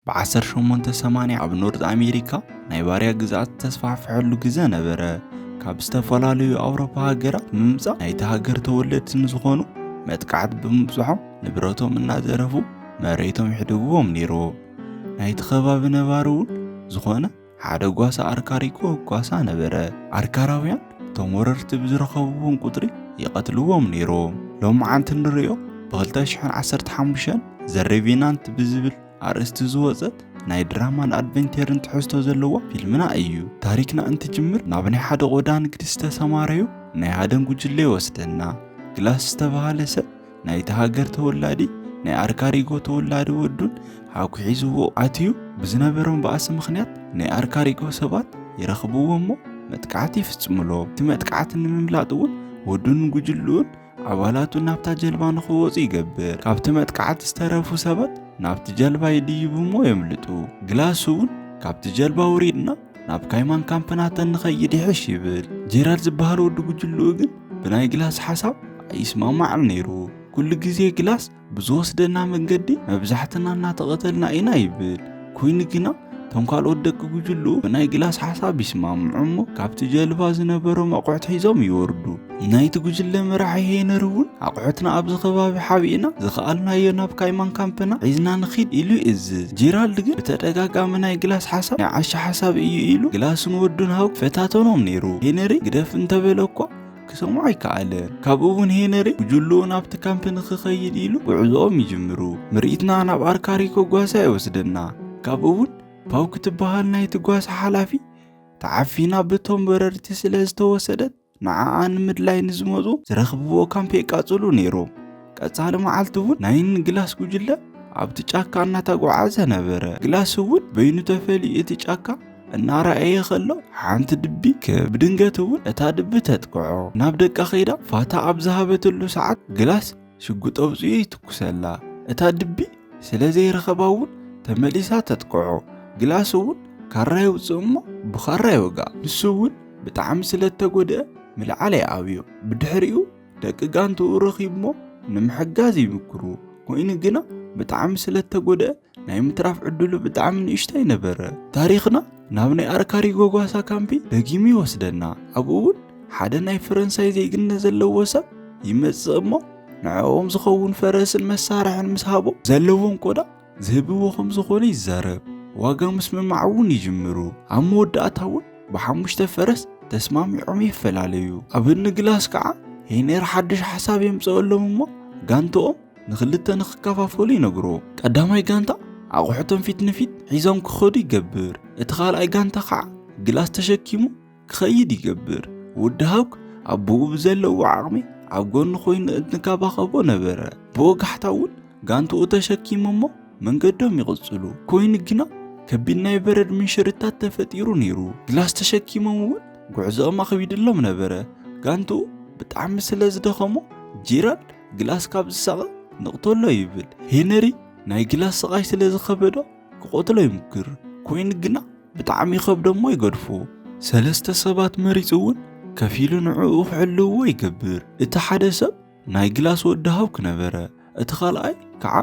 ብ1880 ኣብ ኖርዝ ኣሜሪካ ናይ ባርያ ግዝኣት ዝተስፋሕፈሐሉ ግዘ ነበረ። ካብ ዝተፈላለዩ ኣውሮፓ ሃገራት ብምምፃእ ናይቲ ሃገር ተወለድቲ ንዝኾኑ መጥቃዕቲ ብምብፅሖም ንብረቶም እናዘረፉ መሬቶም ይሕድግዎም ነይሩ። ናይቲ ከባቢ ነባሪ እውን ዝኾነ ሓደ ጓሳ ኣርካሪኮ ጓሳ ነበረ። ኣርካራውያን እቶም ወረርቲ ብዝረኸብዎም ቁጽሪ ይቐትልዎም ነይሮም። ሎምዓንቲ እንርእዮ ብኽልተ ሽሕን ዓሰርተ ሓሙሽተን ዘ ሬቪናንት ብዝብል ኣርእስቲ ዝወጸት ናይ ድራማን ኣድቨንቴርን ትሕዝቶ ዘለዋ ፊልምና እዩ። ታሪክና እንትጅምር ናብ ናይ ሓደ ቆዳ ንግዲ ዝተሰማረዩ ናይ ሃደን ጉጅለ ይወስደና። ግላስ ዝተባህለ ሰብ ናይቲ ሃገር ተወላዲ ናይ ኣርካሪጎ ተወላዲ ወዱን ሓኩ ሒዝዎ ኣትዩ ብዝነበሮም ባእሲ ምክንያት ናይ ኣርካሪጎ ሰባት ይረኽብዎ እሞ መጥቃዕቲ ይፍጽምሎ እቲ መጥቃዕቲ ንምምላጥ እውን ወዱን ጉጅልኡን ኣባላቱ ናብታ ጀልባ ንክወፁ ይገብር ካብቲ መጥቃዕቲ ዝተረፉ ሰባት ናብቲ ጀልባ ይድይቡ እሞ የምልጡ ግላስ እውን ካብቲ ጀልባ ውሪድና ናብ ካይማን ካምፕናተን ንኸይድ ይሕሽ ይብል ጀራል ዝበሃል ወዲ ጉጅልኡ ግን ብናይ ግላስ ሓሳብ ኣይስማማዕን ነይሩ ኩሉ ግዜ ግላስ ብዝወስደና መንገዲ መብዛሕትና እናተቐተልና ኢና ይብል ኮይኑ ግና እቶም ካልኦት ደቂ ጉጅልኡ ብናይ ግላስ ሓሳብ ይስማምዑ እሞ ካብቲ ጀልባ ዝነበሮም ኣቑሑት ሒዞም ይወርዱ ናይቲ ጉጅለ መራሒ ሄነሪ እውን ኣቑሑትና ኣብዚ ከባቢ ሓቢእና ዝኸኣልናዮ ናብ ካይማን ካምፕና ሒዝና ንኺድ ኢሉ ይእዝዝ ጄራልድ ግን ብተደጋጋሚ ናይ ግላስ ሓሳብ ናይ ዓሻ ሓሳብ እዩ ኢሉ ግላስን ወዱን ሃው ፈታተኖም ነይሩ ሄነሪ ግደፍ እንተበለ እኳ ክሰምዖ ኣይከኣለን ካብኡ እውን ሄነሪ ጉጅልኡ ናብቲ ካምፕ ንክኸይድ ኢሉ ጉዕዞኦም ይጅምሩ ምርኢትና ናብ ኣርካሪኮ ጓሳ ይወስደና ካብኡ እውን ፓው ክትበሃል ናይቲ ጓሳ ሓላፊ ተዓፊና ብቶም በረርቲ ስለ ዝተወሰደት ንዓኣ ንምድላይ ንዝመፁ ዝረኽብዎ ካምፕ የቃፅሉ ነይሮም። ቀፃሊ መዓልቲ እውን ናይን ግላስ ጉጅለ ኣብቲ ጫካ እናተጓዓዘ ነበረ። ግላስ እውን በይኑ ተፈልዩ እቲ ጫካ እናረኣየ ከሎ ሓንቲ ድቢ ክብ ብድንገት እውን እታ ድቢ ተጥቅዖ ናብ ደቃ ከይዳ ፋታ ኣብ ዝሃበትሉ ሰዓት ግላስ ሽጉጥ ኣውፂኡ ይትኩሰላ። እታ ድቢ ስለ ዘይረኸባ እውን ተመሊሳ ተጥቅዖ። ግላስ እውን ካራ የውፅእ እሞ ብኻራ ይወግኣ። ንሱ እውን ብጣዕሚ ስለ እተጎድአ ምልዓል ኣይኣብዮ። ብድሕሪኡ ደቂ ጋንትኡ ረኺቡሞ ንምሕጋዝ ይምክሩ። ኮይኑ ግና ብጣዕሚ ስለ እተጎድአ ናይ ምትራፍ ዕድሉ ብጣዕሚ ንእሽተይ ነበረ ታሪኽና ናብ ናይ ኣርካሪ ጎጓሳ ካምፒ ደጊሙ ይወስደና ኣብኡ እውን ሓደ ናይ ፈረንሳይ ዜግነት ዘለዎ ሰብ ይመጽእ እሞ ንዕኦም ዝኸውን ፈረስን መሳርሕን ምስ ሃቦ ዘለዎም ቆዳ ዝህብዎ ከም ዝኾነ ይዛረብ ዋጋ ምስምማዕ እውን ይጅምሩ ኣብ መወዳእታ እውን ብሓሙሽተ ፈረስ ተስማሚዖም ይፈላለዩ ኣብ እንግላስ ከዓ ሄነር ሓድሽ ሓሳብ የምፅኦሎም እሞ ጋንትኦም ንኽልተ ንኽከፋፈሉ ይነግሮ። ቀዳማይ ጋንታ ኣቑሑቶም ፊት ንፊት ሒዞም ክኸዱ ይገብር። እቲ ካልኣይ ጋንታ ከዓ ግላስ ተሸኪሙ ክኸይድ ይገብር። ወዲ ሃውክ ኣቦኡ ብዘለዎ ዓቕሚ ኣብ ጎኑ ኮይኑ እንትንከባኸቦ ነበረ። ብወጋሕታ እውን ጋንትኡ ተሸኪሙ እሞ መንገዶም ይቕጽሉ። ኮይኑ ግና ከቢድ ናይ በረድ ምንሽርታት ተፈጢሩ ነይሩ። ግላስ ተሸኪሞም እውን ጉዕዞኦም ኣኽቢድሎም ነበረ። ጋንትኡ ብጣዕሚ ስለ ዝደኸሞ ጄራልድ ግላስ ካብ ዝሳቐ ንቕተሎ ይብል ሄነሪ ናይ ግላስ ስቓይ ስለ ዝኸበዶ ክቐትሎ ይምክር ኮይኑ ግና ብጣዕሚ ይኸብዶ እሞ ይገድፎ ሰለስተ ሰባት መሪፁ እውን ከፊሉ ንዕኡ ክሕልውዎ ይገብር እቲ ሓደ ሰብ ናይ ግላስ ወዲ ሃው ክነበረ እቲ ካልኣይ ከዓ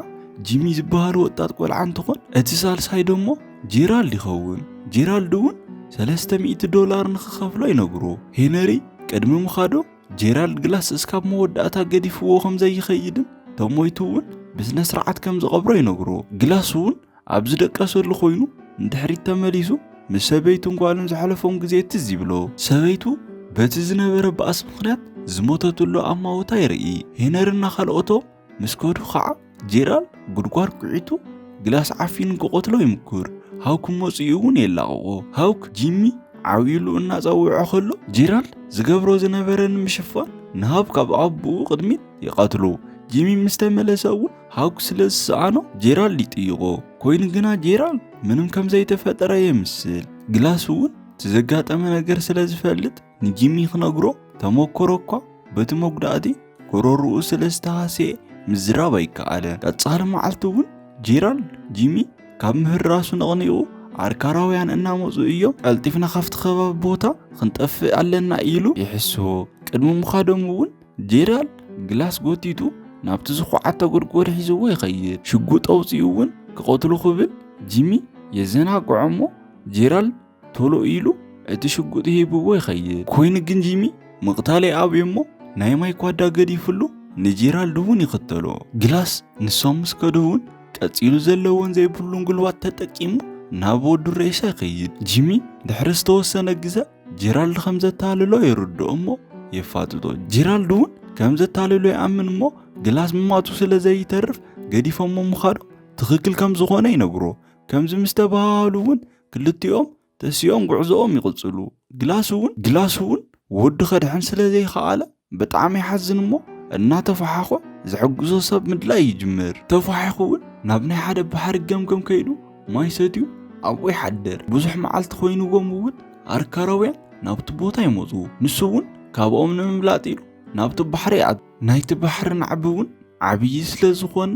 ጂሚ ዝበሃል ወጣት ቆልዓ እንትኾን እቲ ሳልሳይ ደሞ ጄራልድ ይኸውን ጄራልድ እውን ሰለስተ ሚእቲ ዶላር ንክኸፍሎ ይነግሮ ሄነሪ ቅድሚ ምኻዶም ጄራልድ ግላስ እስካብ መወዳእታ ገዲፍዎ ከም ዘይኸይድን ተሞይቱ እውን ብስነ ስርዓት ከም ዝቐብሮ ይነግርዎ ግላስ እውን ኣብ ዝደቀሰሉ ኮይኑ ንድሕሪት ተመሊሱ ምስ ሰበይቱን ጓሉን ዘሕለፎም ግዜ ትዝ ይብሎ ሰበይቱ በቲ ዝነበረ ባእሲ ምክንያት ዝሞተትሉ ኣማውታ ይርኢ ሄነርና ካልኦቶ ምስ ከዱ ኸዓ ጄራል ጉድጓድ ኩዒቱ ግላስ ዓፊኑ ክቐትሎ ይምኩር። ሃውክ መፅኡ እውን የላቕቖ። ሃውክ ጂሚ ዓብዩሉ እናፀውዖ ከሎ ጄራል ዝገብሮ ዝነበረ ንምሽፋን ንሃውክ ኣብ ኣቦኡ ቅድሚት ይቐትሎ። ጂሚ ምስ ተመለሰ እውን ሃውክ ስለ ዝሰኣኖ ጄራል ይጥይቖ። ኮይኑ ግና ጄራል ምንም ከም ዘይተፈጠረ የምስል። ግላስ እውን እቲ ዘጋጠመ ነገር ስለ ዝፈልጥ ንጂሚ ክነግሮ ተመኮሮ እኳ በቲ መጉዳእቲ ጎረርኡ ስለ ዝተሃስየ ምዝራብ ኣይከኣለ። ቀጻሊ መዓልቲ እውን ጄራልድ ጂሚ ካብ ምህራሱ ነቕኒቑ ዓርካራውያን እናመፁ እዮም፣ ቀልጢፍና ካብቲ ከባቢ ቦታ ክንጠፍእ ኣለና ኢሉ ይሕሶ። ቅድሚ ምኻዶም እውን ጄራል ግላስ ጎቲቱ ናብቲ ዝኹዓተ ጎድጎድ ሒዝዎ ይኸይድ። ሽጉጥ ኣውፂኡ እውን ክቐትሎ ክብል ጂሚ የዘናግዖ እሞ ጄራል ቶሎ ኢሉ እቲ ሽጉጥ ሂብዎ ይኸይድ ኮይኑ ግን ጂሚ ምቕታል ይኣብዮ እሞ ናይ ማይ ኳዳ ገዲፍሉ ንጄራልድ እውን ይኽተሎ ግላስ ንሶም ምስ ከዱ እውን ቀጺሉ ዘለዎን ዘይብሉን ጉልባት ተጠቂሙ ናብ ወዱ ሬሳ ይኸይድ ጂሚ ድሕሪ ዝተወሰነ ግዘ ጄራልድ ከም ዘታልሎ ይርድኦ እሞ የፋጥጦ ጄራልድ እውን ከም ዘታልሎ ይኣምን እሞ ግላስ ምማቱ ስለ ዘይተርፍ ገዲፎሞ ምኻዶም ትኽክል ከም ዝኾነ ይነግሮ ከምዚ ምስ ተባሃሉ እውን ክልቲኦም ተሲኦም ጉዕዞኦም ይቕጽሉ። ግላስ እውን ግላስ እውን ወዱ ከድሕን ስለ ዘይኸኣለ ብጣዕሚ ይሓዝን እሞ እናተፈሓኾ ዝሕግዞ ሰብ ምድላይ ይጅምር። ተፋሒኹ እውን ናብ ናይ ሓደ ባሕሪ ገምገም ከይዱ ማይ ሰትዩ ኣብኡ ይሓድር። ብዙሕ መዓልቲ ኮይንዎም እውን ኣርካራውያን ናብቲ ቦታ ይመፁ። ንሱ እውን ካብኦም ንምምላጥ ኢሉ ናብቲ ባሕሪ ይኣቱ። ናይቲ ባሕሪ ናዕቢ እውን ዓብዪ ስለ ዝኾነ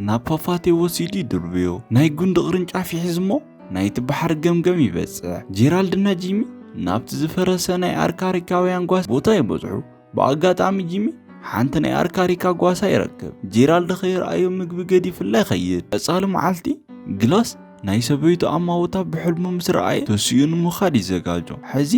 ናብ ፏፏቴ ወሲዱ ይድርብዮ። ናይ ጉንዲ ቅርንጫፍ ይሕዝ እሞ ናይቲ ባሕሪ ገምገም ይበጽሕ። ጄራልድ እና ጂሚ ናብቲ ዝፈረሰ ናይ ኣርካሪካውያን ጓሳ ቦታ ይበጽሑ። ብኣጋጣሚ ጂሚ ሓንቲ ናይ ኣርካሪካ ጓሳ ይረክብ። ጄራልድ ከይርኣዮ ምግቢ ገዲፍላ ይኸይድ። ቀጻሊ መዓልቲ ግላስ ናይ ሰበይቱ ኣማውታ ብሕልሙ ምስ ረኣየ ተሲኡ ንምኻድ ይዘጋጆ። ሕዚ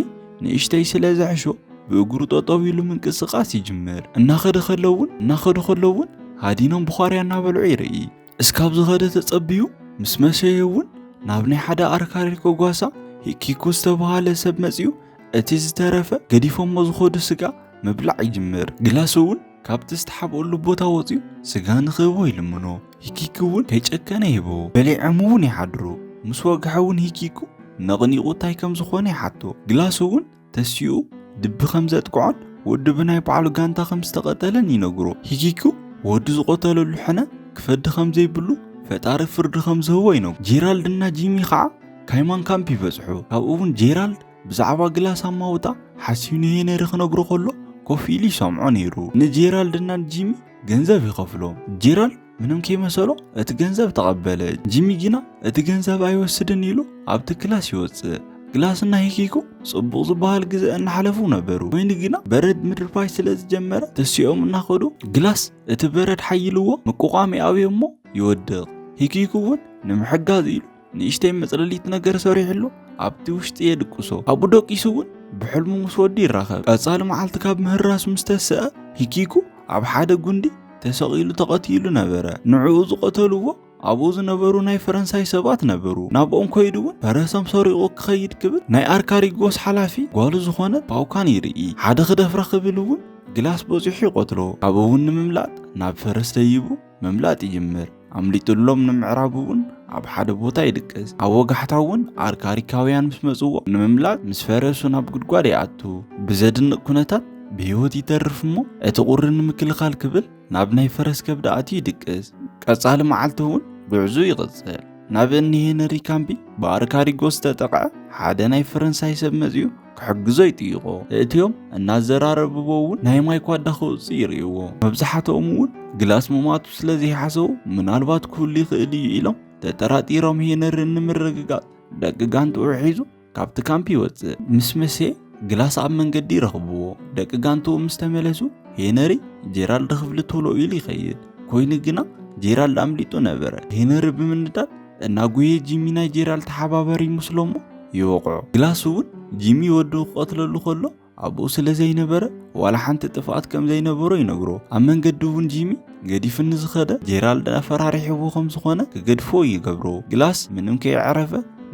ንእሽተይ ስለ ዘሕሾ ብእግሩ ጠጠው ኢሉ ምንቅስቃስ ይጅምር። እናኸደ ከሎ እውን እናኸዱ ከሎ እውን ሃዲኖም ብዃርያ እናበልዑ ይርኢ። እስካብ ዝኸደ ተጸብዩ ምስ መሸየ እውን ናብ ናይ ሓደ ኣርካሪ ከጓሳ ሂኪኩ ዝተብሃለ ሰብ መጺኡ እቲ ዝተረፈ ገዲፎሞ ዝኸዱ ስጋ ምብላዕ ይጅምር። ግላስ እውን ካብቲ ዝተሓብኦሉ ቦታ ወፅዩ ስጋ ንክህቦ ይልምኖ ሂኪኪ እውን ከይጨከነ ይህቦ በሊዖም እውን ይሓድሩ ምስ ወግሐ እውን ሂኪኩ ነቕኒቑ እንታይ ከም ዝኾነ ይሓቶ ግላስ እውን ተሲኡ ድቢ ከም ዘጥቅዖን ወዲ ብናይ ባዕሉ ጋንታ ከም ዝተቐተለን ይነግሮ ሂኪኩ ወዲ ዝቆተለሉ ሕነ ክፈዲ ከም ዘይብሉ ፈጣሪ ፍርዲ ከም ዝህቦ ይነግሮ ጄራልድ እና ጂሚ ከዓ ካይማን ካምፕ ይበፅሑ ካብኡ እውን ጄራልድ ብዛዕባ ግላስ ኣማውታ ሓሲብ ንሄነሪ ክነግሮ ከሎ ኮፍ ኢሉ ይሰምዖ ነይሩ። ንጄራልድና ንጂሚ ገንዘብ ይኸፍሎም። ጄራልድ ምንም ከይመሰሎ እቲ ገንዘብ ተቐበለ። ጂሚ ግና እቲ ገንዘብ ኣይወስድን ኢሉ ኣብቲ ክላስ ይወፅእ። ግላስና ሂኪኮ ጽቡቕ ዝበሃል ግዘ እናሓለፉ ነበሩ። ኮይኑ ግና በረድ ምድርባይ ስለ ዝጀመረ ተሲኦም እናኸዱ ግላስ እቲ በረድ ሓይልዎ ምቁቋም ይኣብዮ እሞ ይወድቕ። ሂኪኩ እውን ንምሕጋዝ ኢሉ ንእሽተይ መጽለሊት ነገር ሰሪሕሉ ኣብቲ ውሽጢ የድቅሶ ኣብኡ ደቂሱ እውን ብሕልሙ ምስ ወዲ ይራኸብ ቀጻሊ መዓልቲ ካብ ምህራሱ ምስ ተስአ ሂኪኩ ኣብ ሓደ ጉንዲ ተሰቒሉ ተቐቲሉ ነበረ ንዕኡ ዝቐተልዎ ኣብኡ ዝነበሩ ናይ ፈረንሳይ ሰባት ነበሩ ናብኦም ኮይዱ እውን ፈረሶም ሰሪቑ ክኸይድ ክብል ናይ ኣርካሪጎስ ሓላፊ ጓሉ ዝኾነ ፓውካን ይርኢ ሓደ ክደፍራ ክብል እውን ግላስ በፂሑ ይቐትሎ ካብ እውን ንምምላጥ ናብ ፈረስ ደይቡ ምምላጥ ይጅምር። ኣምሊጡሎም ንምዕራብ እውን ኣብ ሓደ ቦታ ይድቅስ። ኣብ ወጋሕታ እውን ኣርካሪካውያን ምስ መጽዎ ንምምላጥ ምስ ፈረሱ ናብ ጉድጓድ ይኣቱ። ብዘድንቕ ኩነታት ብህይወት ይተርፍ እሞ እቲ ቁሪ ንምክልኻል ክብል ናብ ናይ ፈረስ ከብዲ ኣትዩ ይድቅስ። ቀጻሊ መዓልቲ እውን ጉዕዙ ይቕጽል። ናብ እኒ ሄነሪ ካምቢ ብኣርካሪጎስ ዝተጠቕዐ ሓደ ናይ ፈረንሳይ ሰብ መጽኡ ክሕግዞ ይጥይቖ እእትዮም እናዘራረብዎ እውን ናይ ማይ ኳዳ ክውፅ ይርእይዎ መብዛሕትኦም እውን ግላስ ምማቱ ስለ ዘይሓሰቡ ምናልባት ክህሉ ይኽእል እዩ ኢሎም ተጠራጢሮም ሄነሪ ንምርግጋፅ ደቂ ጋንትኡ ሒዙ ካብቲ ካምፕ ይወፅእ ምስ መሴ ግላስ ኣብ መንገዲ ይረኽብዎ ደቂ ጋንትኡ ምስ ተመለሱ ሄነሪ ጄራልድ ክፍሊ ቶሎ ኢሉ ይኸይድ ኮይኑ ግና ጄራልድ ኣምሊጡ ነበረ ሄነሪ ብምንዳድ እናጉየ ጂሚ ናይ ጄራል ተሓባበሪ ምስሎሞ ይወቕዖ ግላስ እውን ጂሚ ወዱ ክቐትለሉ ከሎ ኣብኡ ስለ ዘይነበረ ዋላ ሓንቲ ጥፍኣት ከም ዘይነበሮ ይነግሮ ኣብ መንገዲ እውን ጂሚ ገዲፍኒ ዝኸደ ጄራልድ ኣፈራሪሕዎ ከም ዝኾነ ክገድፎ ይገብሮ ግላስ ምንም ከይዕረፈ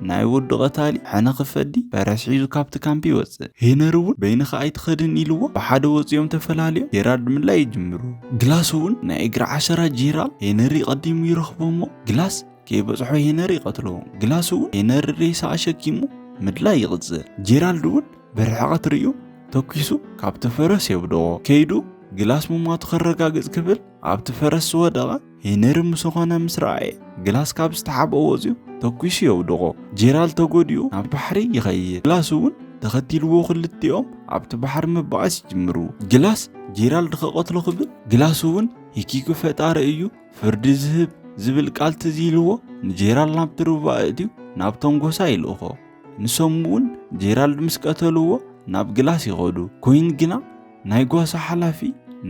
ናይ ወዱ ቀታሊ ሕነ ክፈዲ ፈረስ ሒዙ ካብቲ ካምፒ ይወፅእ ሄነሪ እውን በይንኻ ኣይትኸድን ኢልዎ ብሓደ ወፂኦም ተፈላለዮም ጄራልድ ምላይ ይጅምሩ ግላስ እውን ናይ እግሪ ዓሸራ ጄራል ሄነሪ ቀዲሙ ይረኽቦ እሞ ግላስ ከይበጽሖ ሄነሪ ይቐትሎ ግላስ እውን ሄነሪ ሬሳ ኣሸኪሙ ምድላይ ይቕጽል ጄራልድ እውን ብርሕቐት ርእዩ ተኪሱ ካብቲ ፈረስ የብድኦ ከይዱ ግላስ ምሟቱ ከረጋግጽ ክብል ኣብቲ ፈረስ ዝወደቐ ሄነሪ ምስ ኾነ ምስ ረኣየ ግላስ ካብ ዝተሓብኦ ወፅዩ ተኪሱ የውድቖ ጄራልድ ተጎዲኡ ናብ ባሕሪ ይኸይድ ግላስ እውን ተኸቲልዎ ክልቲኦም ኣብቲ ባሕሪ ምባኣስ ይጅምሩ ግላስ ጄራልድ ከቐትሎ ክብል ግላስ እውን ሂኪኩ ፈጣሪ እዩ ፍርዲ ዝህብ ዝብል ቃል ትዝ ኢልዎ ንጄራል ናብቲ ሩባ ኣእትዩ ናብቶም ጎሳ ይልእኾ ንሶም እውን ጄራልድ ምስ ቀተልዎ ናብ ግላስ ይኸዱ ኮይን ግና ናይ ጓሳ ሓላፊ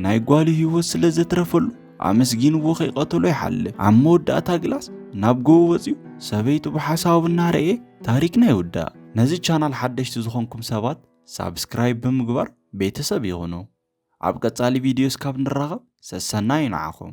ናይ ጓሉ ህይወት ስለ ዘትረፈሉ ኣመስጊንዎ ከይቀተሎ ይሓልፍ ኣብ መወዳእታ ግላስ ናብ ጎቦ ወፅዩ ሰበይቱ ብሓሳቡ እናረኤ ታሪክና ይውዳእ ነዚ ቻናል ሓደሽቲ ዝኾንኩም ሰባት ሳብስክራይብ ብምግባር ቤተሰብ ይኹኑ ኣብ ቀጻሊ ቪድዮ እስካብ ንራኸብ ሰሰናዩ ንዓኹም።